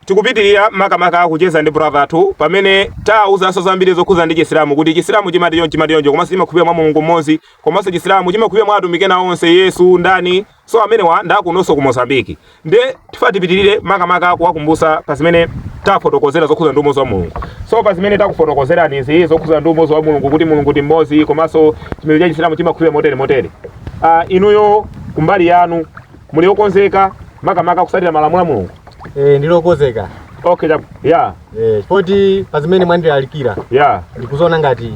Tikupitilira makamaka kucheza ndi brother athu pamene taawuzanso zambiri zokhuza ndi Chisilamu kuti Chisilamu chimati chonchi chimati choncho komanso chimakhulupira mwa Mulungu mmodzi komanso Chisilamu chimakhulupira mwa atumiki ena onse Yesu ndani so amenewa ndakunonso ku Mozambique nde tifuna tipitilire makamaka kuwakumbusa pa zimene tafotokozera zokhuza ndi umodzi wa Mulungu so pa zimene takufotokozerani izi zokhuza ndi umodzi wa Mulungu kuti Mulungu ndi mmodzi komanso chipembedzo cha Chisilamu chimakhulupira motere motere uh, inuyo kumbali yanu muli okonzeka makamaka kusatira malamulo a mulungu Eh, ndili okonzeka okay chab- ya Eh, poti pa zimene mwandilalikira ya ndikuziona ngati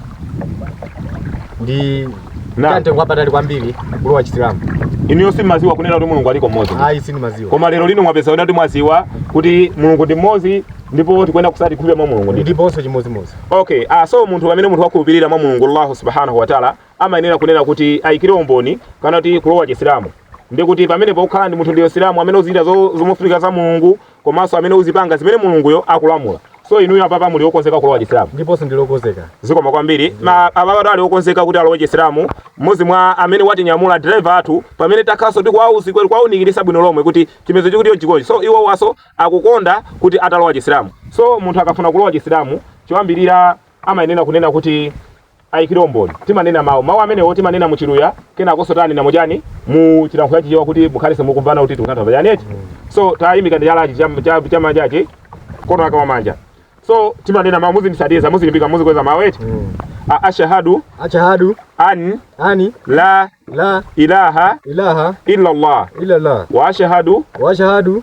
ndi Na. kamtengo wapatali kwambiri kulowa chisilamu inuyo simaziwa kunena kuti mulungu aliko mmodzi ayi sindimaziwa koma lero lino mwapeza kuti mwaziwa kuti mulungu ndi mmodzi ndipo tikuyenera kusati khulupira mwa mulungu ndi ndiponso chimodzimodzi okay ah, so munthu pamene munthu wakhulupirira mwa mulungu allahu subhanahu wataala amayenera kunena kuti aikire umboni kana kuti kulowa chisilamu ndi kuti pamene pokhala ndi munthu ndiwe msilamu amene uzichita zo- zomufunika za mulungu komanso amene uzipanga zimene mulunguyo akulamula so inuyo apapa muli okonzeka kulowa chisilamu ndiponso ndili okonzeka zikomo kwambiri ma ababa ali okonzeka kuti alowe chisilamu mmodzi mwa amene watinyamula driver athu pamene takhalanso ndi kuwauza kuwaunikiritsa bwino lomwe kuti chipembedzo chikuti chonchi so iwowanso akukonda kuti atalowa chisilamu so munthu akafuna kulowa chisilamu choyambirira amayenera kunena kuti aikire umboni. Timanena mawu. Mawu amenewo timanena mu Chiluya, kenakonso tanena mu chani? Mu chilankhulo cha Chichewa kuti mukhalenso mukumvana kuti tikutanthauza chani eti? So tayimikani chalachi cham- cha- chamanjachi, mkono wake wamanja. So timanena mawu, muzindisatiza, muzilimbika, muzikweza mawu eti? A- Ashahadu Ashahadu an an la la ilaha ilaha illallah illallah wa ashahadu wa ashahadu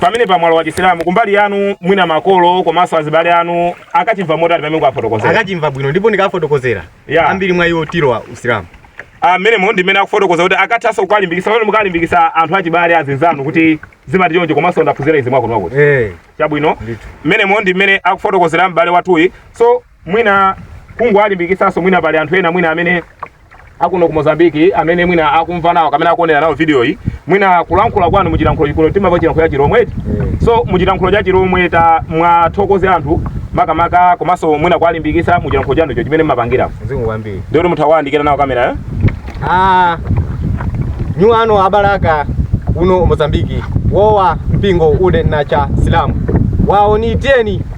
pamenepa mwalowa chisilamu kumbali yanu mwina makolo komanso azibale anu akachimva motani pamene kukafotokozera akachimva bwino ndipo ndikafotokozera yeah. ambiri mwa iwo alowa usilamu amenemo ah, ndi mmene akufotokoza kuti akathanso kuwalimbikisa pamene mukalimbikisa anthu achibale azinzanu kuti zimati choncho komanso ndaphunzira izi mwakuno mwakuti hey. Eh. chabwino mmenemo ndi mmene akufotokozera m'bale wathuyi so mwina kungowalimbikitsanso mwina pali anthu ena mwina amene akuno ku Mozambique amene mwina akumva nawo kapena akuonera nawo video iyi mwina kulankhula kwanu muchilankhulo chikuno timava chilankhulo cha chilomwe eti so muchilankhulo cha chilomwe tamuwathokoze anthu makamaka komanso mwina kuwalimbikitsa muchilankhulo chanu icho chimene mmapangira Zikomo kwambiri. ndio kuti mutha kuwayandikira nawo kamera eh? Ah. Nyu ano abalaka uno Mozambiki. Wowa mpingo une na cha Silamu. Waoniteni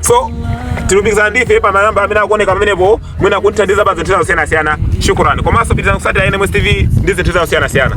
so tilumikizane ndi ife pa manamba amene akuoneka pamenepo mwina kutithandiza pa zinthu zina zosiyanasiyana shukurani komanso pitirizani kusatira nms tv ndi zinthu zina zosiyanasiyana